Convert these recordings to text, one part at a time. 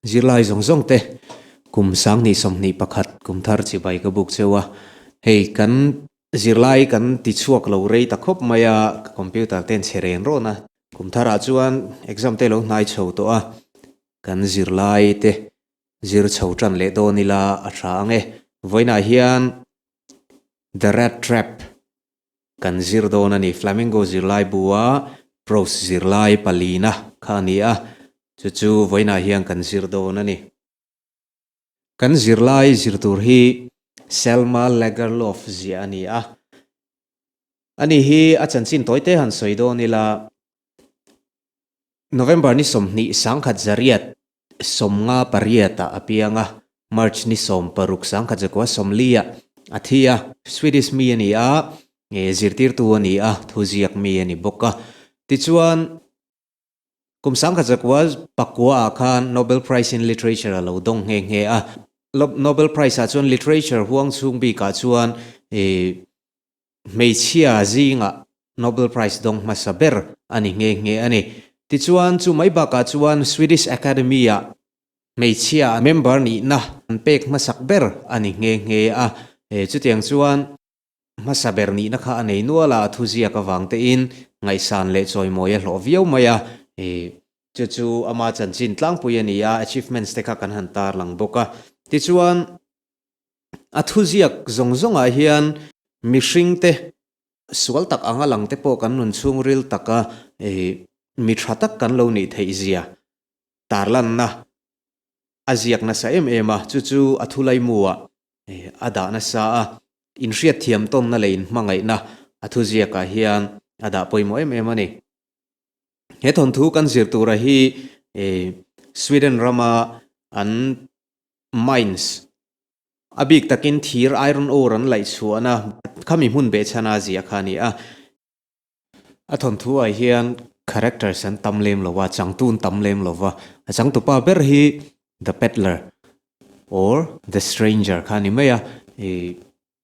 Zirlai zawng zawng te kum sangni sawmhnih pakhat kum thar chibai ka buk cheu a, hei kan zirlai kan ti chhuak lo rei ta khawp mai a, ka computer ten chhe ren rawn a, kum thar ah chuan exam te lo hnai chho tawh a, kan zirlai te zir chho tan leh dawn ila a tha ang e, vawiinah hian The Rat Trap Kan zir dawn a ni. Flamengo zirlai bua Pros zirlai palina kha a ni a, chu chu vawiinah hian kan zir dawn a ni. Kan zirlai zir tur hi Selma Lagerlof zia a ni a. Ani hi a chanchin tawite han sawi dawn ila November ni sawmhnih sangkhat zariat sawmnga pariatah a piang a, March ni sawm paruk sangkhat zakua sawmliah a thi a. Swedish mi a ni a, zirtirtu a ni a, thuziak mi a ni bawk a. Tichuan, kum sangkhat zakua pakuaah khan Nobel Prize in Literature a lo dawng nghe nghe a. Nobel Prize ah chuan Literature huang chhung bikah chuan hmeichhia zingah Nobel Prize dawng hmasa ber a ni nghe nghe a ni. Tichuan chu mai bakah chuan Swedish Academy-a hmeichhia member nihna an pek hmasak ber a ni nghe nghe a. Chutiang chuan hmasa ber nihna kha a nei nual a, a thuziak avangtein ngaihsan leh chawimawi a hlawh viau mai a. Chu chu ama chanchin tlangpui a ni a, achievements te kha kan han tarlang bawk a. Tichuan A thu ziak zawng zawngah hian mihring te sual tak anga lang te pawh kan rawn chhungril tak a, mi tha tak kan lo nih theih zia tarlanna a ziak nasa em em a, chu chu a thu laimuua a dah nasa a, inhriat thiam tawnna leh inhmangaihna a thu ziakah hian a dah pawimawh em em a ni. He thawnthu kan zir tura hi Sweden rama an Mines, a bik takin thir iron ore an laih chhuahna khami hmun beh chhana zia kha a ni a. A thawnthu ah hian characters an tam lem lo va, changtu an tam lem lo va. A changtu pa ber hi The Peddler or The Stranger kha a ni mai a.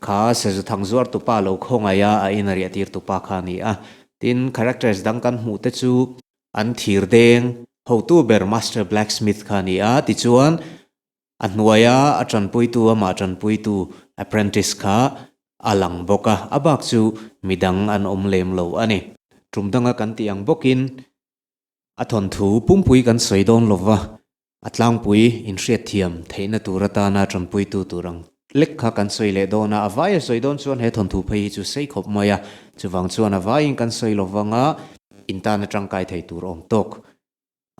Kha Sezu thang zuartu pa lo khawngaih a a inariahtirtu pa kha a ni a. Tin, characters dang kan hmuh te chu an thirdeng hotu ber Master Blacksmith kha a ni a, tichuan a hnuaia a tanpuitu amah tanpuitu apprentice kha a lang bawk a, a bak chu midang an awm lem lo a ni. Tumdanga kan tih ang bawkin a thawnthu pumpui kan sawi dawn lo va, A tlangpui inhriatthiam theihna tur atana ṭanpuitu tur ang lek kha kan sawi leh dawn a, a vai a sawi dawn chuan he thawnthu phei hi chu sei khawp mai a, chuvang chuan a vaiin kan sawi lovang a, in tan a ṭangkai thei tur awm tawk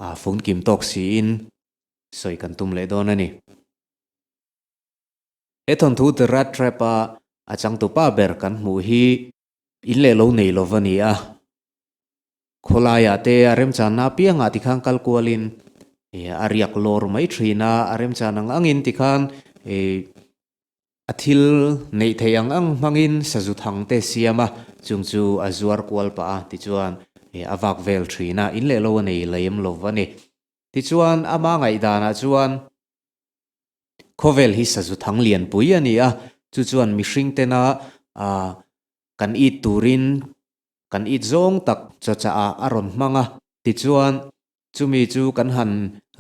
a fun kim tawk siin sawi kan tum leh dawn a ni. He thawnthu The Rat Trap-a a changtupa ber kan hmuh hi. In leh lo nei lova ni a, khawlaiah te a remchanna apiangah ti khan kal kualin a riak lawr mai thin a, a remchan ang angin ti khan a thil neih theih ang ang hmangin sazu thang te siam a, chung chu a zuar kual pah a, tichuan a vak vel thin a, in leh lo a nei lem lova ni. Tichuan ama ngaihdanah chuan Khawvel hi sazu thang lianpui a ni a, chu chuan mihring tena kan it turin kan it zawng tak chawchahah a rawn hmang a, tichuan chumi chu kan han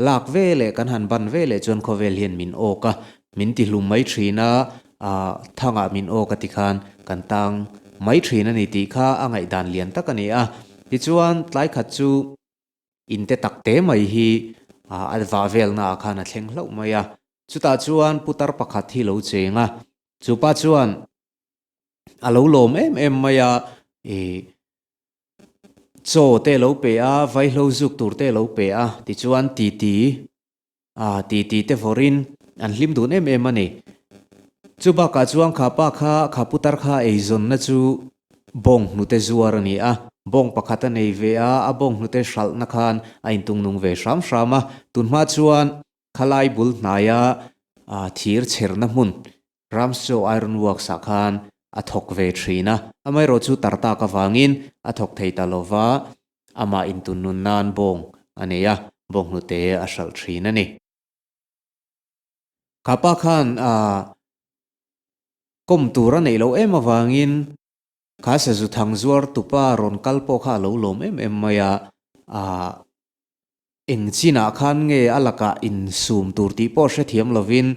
lak ve leh kan han ban ve leh chuan khawvel hian min awk a, min tihlum mai thin a, thangah min awk a ti khan kan tang mai thin a ni tih kha a ngaihdan lian tak a ni a. Tichuan tlai khat chu in te tak te mai hi a vah velna ah khan a thleng hlauh mai a. Chutah chuan putar pakhat hi lo cheng a, chu pa chuan a lo lawm em em mai a, ih chaw te lo pe a, vaihlo zuk tur te lo pe a tichuan titi a ti ti te vawrin an hlim dun em em a ni. Chu bakah chuan kha pa kha, kha putar kha ei zawnna chu bawng hnute zuar a ni a, bawng pakhat a nei ve a, a bawng hnute hralhna khan a intung nung ve hram hram a. Tunhma chuan khalai bul hnaia thir chherna hmun Ramsjo ai rawn uak sah khan a thawk ve thin a, amaherawh chu Tartak avangin a thawk thei ta lo va, amah intun nun nan bawng a nei a, bawnghnute a hralh thin a ni. Kapa khan a kawm tur a neih loh em avangin. Khasa zu thang zuar tupa rawn kal pawh kha a lo lawm em em mai a, aah eng chinah khan nge a lakah in sum tur tih pawh hre thiam lovin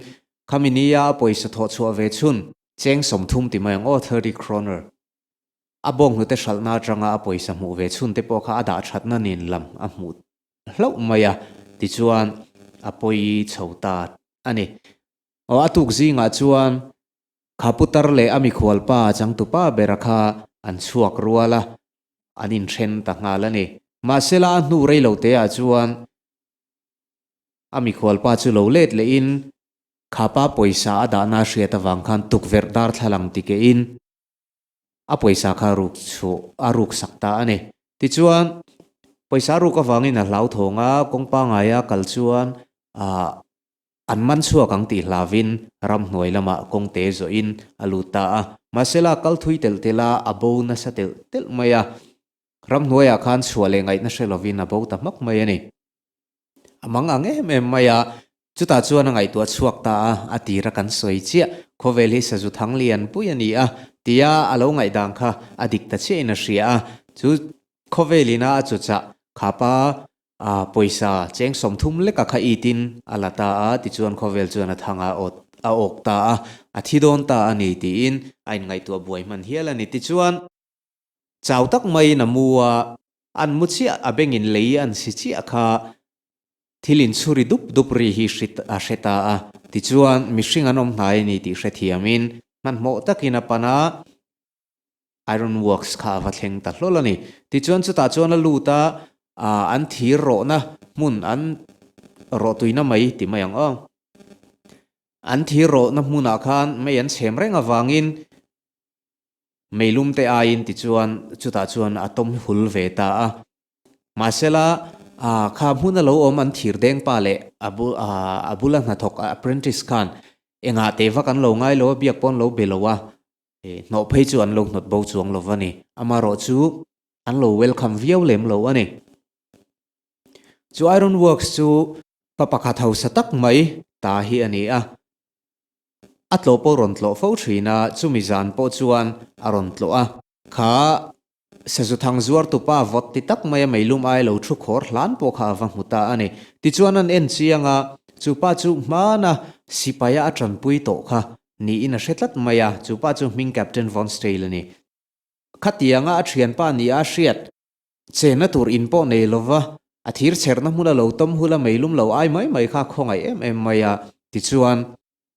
kha mi ni a, a pawisa thawh chhuah ve chhun. Cheng sawm thum ti mai ang aw thirty kroner. A bawng hnute hralhna atanga a pawisa hmuh ve chhun te pawh kha a dah thatna nen lam a hmuh hlauh mai a, tichuan a pawi chho ta a ni. Aw a tuk zingah chuan kha putar leh a mikhual pa changtupa bera kha an chhuak rual a, an inthren ta nghal a ni. Mahsela a hnu rei lo teah chuan a mikhual pa chu lo let lehin kha pa pawisa a dahna hriat avang khan tukverh darthlalang ti kehin a pawisa kha ruk chhuh a ruk sak ta a ni. Tichuan, pawisa ruk avangin a hlauthawng a, kawngpa ngaia kal chuan a An man chhuak ang tih hlavin ramhnuai lamah kawng te zawhin a lut ta a. Mahsela kal thui telh telh a, a bo nasa telh telh mai a. Ramhnuaiah khan chhuah leh ngaihna hre lovin a bo ta hmak mai a ni. A mang ang em em mai a. Chutah chuan a ngaihtuah chhuak ta a, a tir a kan sawi chiah. Khawvel hi Sazu Thangli an pui a ni a, tia a lo ngaihdang kha a dik ta chiahin a hria a. Chu khawvelin a a chuchah Khapa A pawisa cheng sawm thum leka kha itin a la ta a, tichuan khawvel chuan a thang a awt a awk ta a, a thi dawn ta a ni tiin a inngaihtuah buai hman hial a ni. Tichuan chau tak maiin a mu a, an mu chiah a bengin lei an si chiah kha thil inchhuri dup dup ri hi hrit a hre ta a, tichuan mihring an awm hnai a ni tih hrethiamin hmanhmawh takin a pan a. Iron Works kha a va thleng ta hlawl a ni. Tichuan chutah chuan a lut a, Aah, an thir rawhna hmun an rawh tuina mai ti mai ang aw. An thir rawhna hmunah khan mei an chhem reng avangin mei lumte aiin tichuan chutah chuan a tawm hul ve ta a. Mahsela, aah, kha hmun a lo awm an thir dengpa leh a bul, aah, a bula hnathawk apprentice khan engah teh vak an lo ngailo a, biak pawh an lo be lo a. eh hnawh phei chu an lo hnawt bo chuang lo va ni. Amarawh chu an lo welcome viau lem lo a ni. Chu Iron Works chu pa pakhat hausa tak mai ta hi a ni a. A tlawh pawh rawn tlawh fo thin a, chumi zan pawh chuan a rawn tlawh a. Kha Sazuthang zuartu pa vawt ti tak maia meilum ai lo thu khawr hlan pawh kha ava hmu ta a ni. Tichuan an en chiang a, chu pa chu hmana sipaia a tanpui tawh kha niin a hre tlat mai a, chu pa chu hming Captain Vonstale a ni. Khatianga a thianpa nih a hriat. Chenna tur in pawh nei lova, a thir chherna hmuna lo tawm hula meilum lo ai mai mai kha khawngaih em em mai a, tichuan.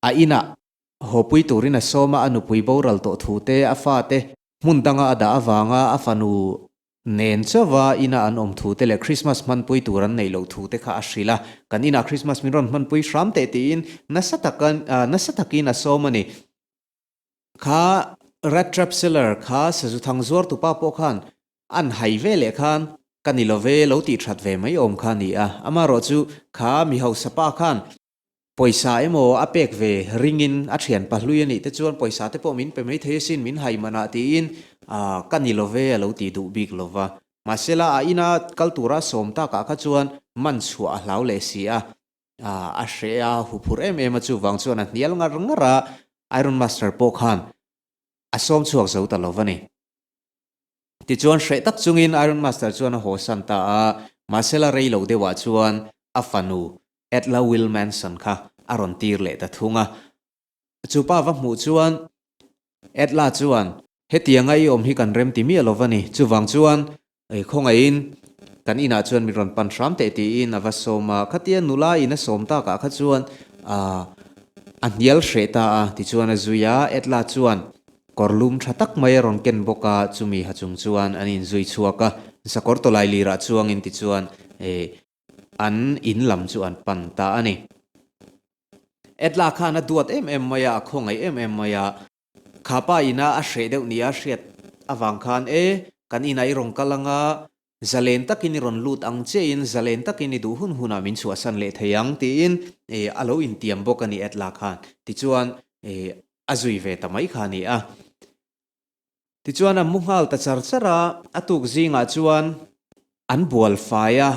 A inah hawpui turin a sawma a nupui boral tawh thu te a fa te hmun danga a dah avanga a fanu nen chauva inah an awm thu te leh Krismas hmanpui tur an neih loh thu te kha a hrilh a. Kan inah Krismas min rawn hmanpui hram teh tiin nasa taka nasa takin a sawm a ni. Kha Rat Trap Seller kha sazuthang zuartu pa pawh khan an hai ve leh khan ka ni lo ve lo tih that ve mai awm kha a ni a. Amaherawhchu kha mi hausa pa khan Pawisa emaw a pek ve ringin a thian pahlui a nih te chuan pawisa te pawh min pe mai thei asin, min hai man a tiin aah ka ni love a lo ti duh bik lo va. Mahsela a ina kal tura sawm takah kha chuan man chhuah a hlau leh si a, aah a hreh a huphurh em em a chuvang chuan a hnial ngar ngar a, Iron Master pawh khan A sawm chhuak zo ta lo va ni. Tichuan hreh tak chungin Iron Master chuan a haw san ta a, mahse la rei lo deuhah chuan a fanu Edler Wilmanson kha a rawn tir leh ta thung a. Chu pa va hmuh chuan Edler chuan, Hetianga i awm hi kan rem ti miah lo va ni, chuvang chuan Ei khawngaihin kan inah chuan min rawn pan hram teh tiin a va sawm a, khatia nula in a sawm takah kha chuan aah a hnial hreh ta a tichuan a zui a, Edla chuan kawrlum tha tak mai a rawn ken bawk a, chumi ha chung chuan an inzui chhuak a, sakawr tawlai lirah chuangin tichuan eeh an in lam chu an pan ta a ni. Edla khan a duat em em mai a, a khawngaih em em mai a. Kha pa ina a hreh deuh nia hriat avang khan e kan inah i rawn kal anga zalen takin i rawn lut ang che in zalen takin i duh hun hun ah min chhuahsan leh thei ang tiin a lo intiam bawk a ni at lah khan tichuan a zui ve ta mai kha ni a tichuan a mu nghal ta char char a a tuk zingah chuan an bual fai a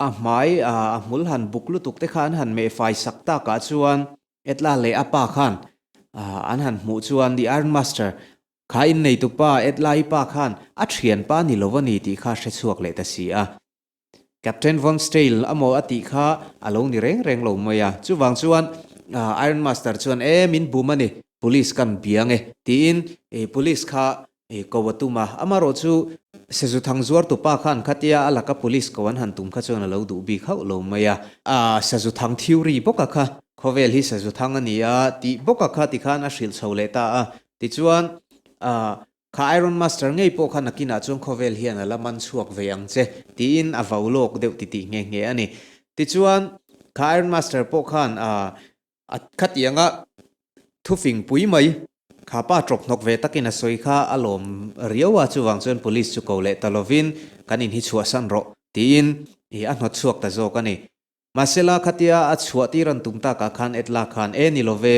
A hmai a a hmul han buk lutuk te kha an han meh fai sak takah chuan Edla leh a pa khan an han hmuh chuan The Iron Master, Kha in neitu pa, Edla i pa khan a thian pa ni lo a ni tih kha hre chhuak leh ta si a. Captain Von Stale emaw a tih kha a lo ni reng reng lo mai a. Chuvang chuan Iron Master chuan, E, min bum a ni. Police kan biang e tiin Police kha ko a tum a, amarawh chu Sazuthang zuartu pa kha an khat ia a laka Police ko an han tum kha chuan a lo duh bik hauh lo mai a. Sazuthang thiu ri bawka kha khawvel hi Sazuthang a ni a tih bawka kha tikhan a hrilh chho leh ta a, tichuan kha Iron Master ngei pawh kha nakinah chuan khawvel hian a la man chhuak ve ang che tiin a vau lawk deuh ti tih nghe nghe a ni. Tichuan kha Iron Master pawh khan A khatiang a thufing pui mai kha pa tawp hnawk ve takin a sawi kha a lawm riau a, chuvang chuan police chu ko leh ta lovin kan inhi chhuahsan rawh tiin ih a hnawt chhuak ta zawk a ni. Mahsela khatia a chhuah tir an tum takah khan Edla khan e ni love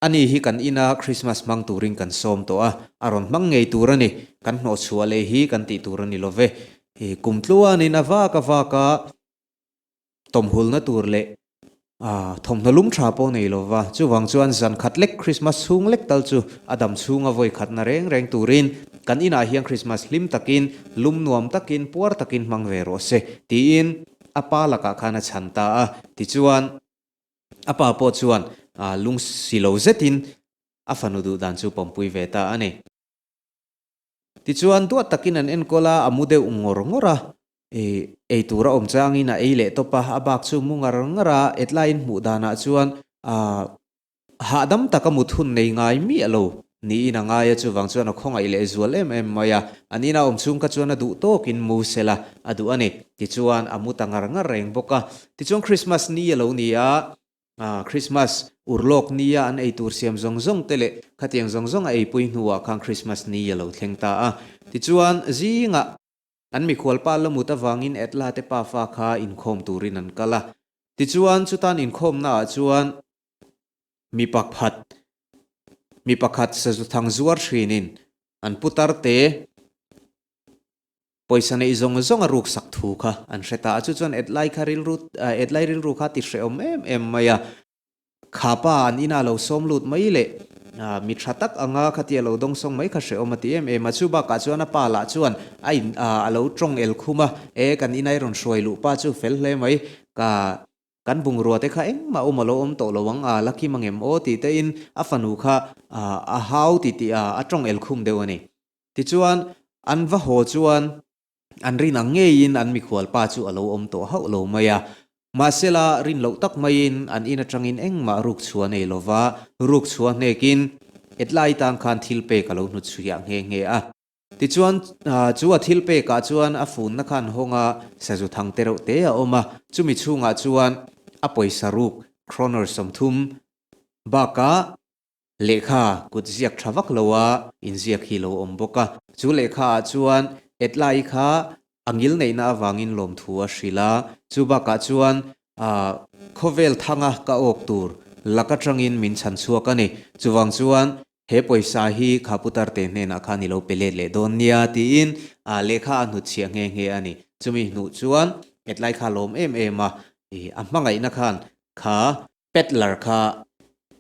a ni hi kan ina Christmas hmang turin kan sawm tawh a, a rawn hmang ngei tur a ni, kan hnawh chhuah leh hi kan tih tur a ni love. Kum tluanin a vak a vak a. tawmhulna tur leh thawmhnaw lum tha pawh nei lo va, chuvang chuan zan khat lek Krismas chhung lek tal chu a dam chhunga vawi khatna reng reng turin kan inah hian Krismas hlim takin lum nuam takin puar takin hmang ve rawh se tiin a pa lakah khan a chhan ta a. Tichuan a pa pawh chuan lung si lo zetin a fanu duh dan chu pawmpui ve ta a ni. Tichuan, duat takin an enkawl a, a mu deuh ngawr ngawr a. I, eitur a awm changin a ei leh tawp a, a bak chu mu ngar ngar a, hetlaiin hmuh danah chuan, Aah, hahdam taka mut hun nei ngai miah lo, niin a ngai a, chuvang chuan a khawngaih leh zual em em mai a, a nina awm chhung kha chuan a duh tawkin mu sel a, a duh a ni. Tichuan, a mu ta ngar ngar reng bawk a. Tichuan, Krismas ni a lo ni a, Krismas ur lawk nia an ei tur siam zawng zawng te leh khatiang zawng zawng a eipui hnuah khan Krismas ni a lo thleng ta a. Tichuan, zingah an mikhual pa Lamut avangin Edla te pa fa kha inkhawm turin an kal a. Tichuan, chu tan inkhawmna ah chuan mi pakhat, mi pakhat sazuthang zuar thin in an putar te Pawisa neih zawng zawng a ruk sak thu kha an hre ta a, chu chuan Etlai kha rilru ah Etlai rilru kha ti hrehawm em em mai a, Khapa an ina lo sawm lut mai leh ah mi tha tak anga khati a lo dawng sawng mai kha hrehawm a ti em em a, chu bakah chuan a pa lah chuan a in ah a lo tawng el khum a, e kan inai a rawn hruai luh pa chu fel hle mai ka kan bungrua te kha engmah awm a lo awm tawh lo ang a, Lucky mangem aw tih te in a fanu kha ah a hau titi ah a tawng el khum deuh a ni. Tichuan, an va haw chuan an rin ang ngeiin an mikhual pa chu a lo awm tawh hauh lo mai a. Mahsela, rin loh tak maiin an in atangin engmah rukchhuah nei lo va, rukchhuah hnekin, E tlai tan khan thil pek a lo hnu chhuiah nghe nghe a. Tichuan, chu a thil pekah chuan a funna khan hawng a, sazu thang te reuh te a awm a. Chumi chhungah chuan a pawisa ruk, kroner sawmthum, bakah Lehkha kut ziak tha vak lo a inziak hi lo awm bawk a, chu lehkha ah chuan Etlai kha a ngil neihna avangin lawmthu a hrilh a, chu bakah chuan khawvel thanga ka awk tur lak atangin min chhan chhuak a ni, chuvang chuan he pawisa hi Khapu Tarte hnenah khan i lo pe let leh dawn nia tiin lehkha a hnut chhiah nghe nghe a ni, chumi hnuh chuan Etlai kha lawm em em a, a hmangaihna khan kha Peddler kha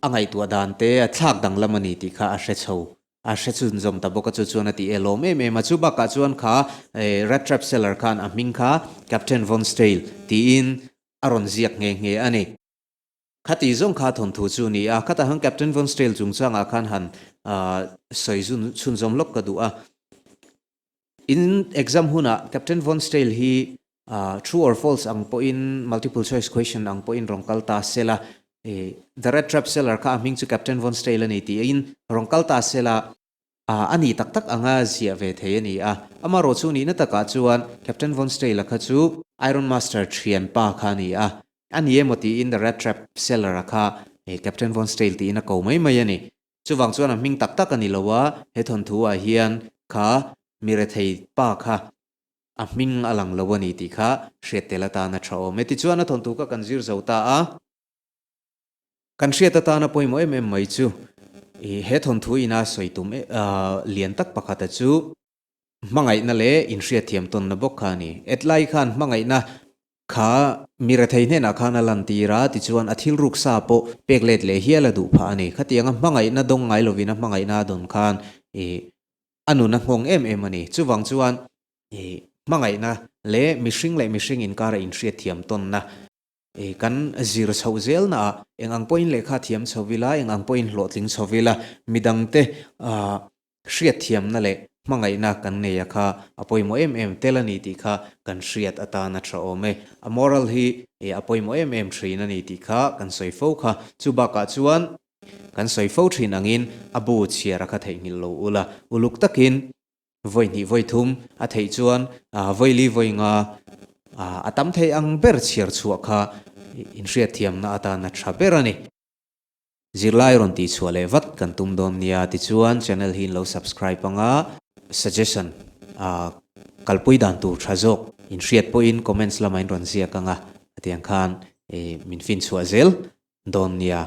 a ngaihtuah dan te a thlak danglam a ni tih kha a hre chho, a hre chhun zawm ta bawk a, chu chuan a ti elawm em em a. Chu bakah chuan kha Rat Trap Cellar khan a hming kha Captain Von Stale tiin a rawn ziak nghe nghe a ni. Khati zawng kha thawnthu chu ni a, khatah hian Captain Von Stale chungchangah khan han sawi chhun zawm lawk ka duh a. In exam hunah Captain Von Stale hi True or False ang pawhin Multiple Choice Question ang pawhin rawn kal ta sel a, The Rat Trap Seller kha a hming chu Captain Von Stale a ni tiin rawn kal ta sel a, a ni tak tak anga ziah ve thei a ni a, amarawh chu nihna takah chuan Captain Von Stale a kha chu Iron Master thian pa kha a ni a, a ni emaw tiin The Rat Trap Seller a kha Captain Von Stale tiin a ko mai mai a ni. Chuvang chuan a hming tak tak a ni lo a, he thawnthu ah hian kha mi rethei pa kha a hming a lang lo a ni tih kha hriat tel atana tha awm e. Tichuan a thawnthu kha kan zir zo ta a, kan hriat atana pawimawh em em mai chu he thawnthu ina sawi tum lian tak pakhata chu, hmangaihna leh inhriatthiam tawnna bawk kha a ni. Hetlai khan hmangaihna kha mi rethei hnenah khan a lantir a, tichuan a thil ruksa pawh pek let leh hial a duh phah a ni. Khatianga hmangaihna dawng ngai lovin a hmangaihna a dawn khan a nun a nghawng em em a ni. Chuvang chuan hmangaihna leh mihring leh mihring inkara inhriatthiam tawnna, Ih kan zir chhoh zel na ah eng ang pawhin lehkha thiam chhoh vil a, eng ang pawhin hlawhtling chhoh vil a, midang te ah hriatthiam na leh hmangaih na kan ngei a kha a pawimawh em em tel a ni tih kha kan hriat atan a tha awm e. A moral hi ih a pawimawh em em thin a ni tih kha kan sawi fo kha. Chu bakah chuan kan sawi fo thin angin a bu chhiar a kha theihnghilh lo ula uluk takin Vawi hnih vawi thum a theih chuan vawi li vawi nga a tam thei ang ber chhiar chhuah kha inhriatthiamna atan a tha ber a ni. Zirlai rawn tih chhuah leh vat kan tum dawn nia. Tichuan channel hi in lo subscribe ang a, suggestion kalpui dan tur tha zawk inhriat pawhin comments lamah in rawn ziak ang a, hetiang khan min fin chhuah zel dawn nia.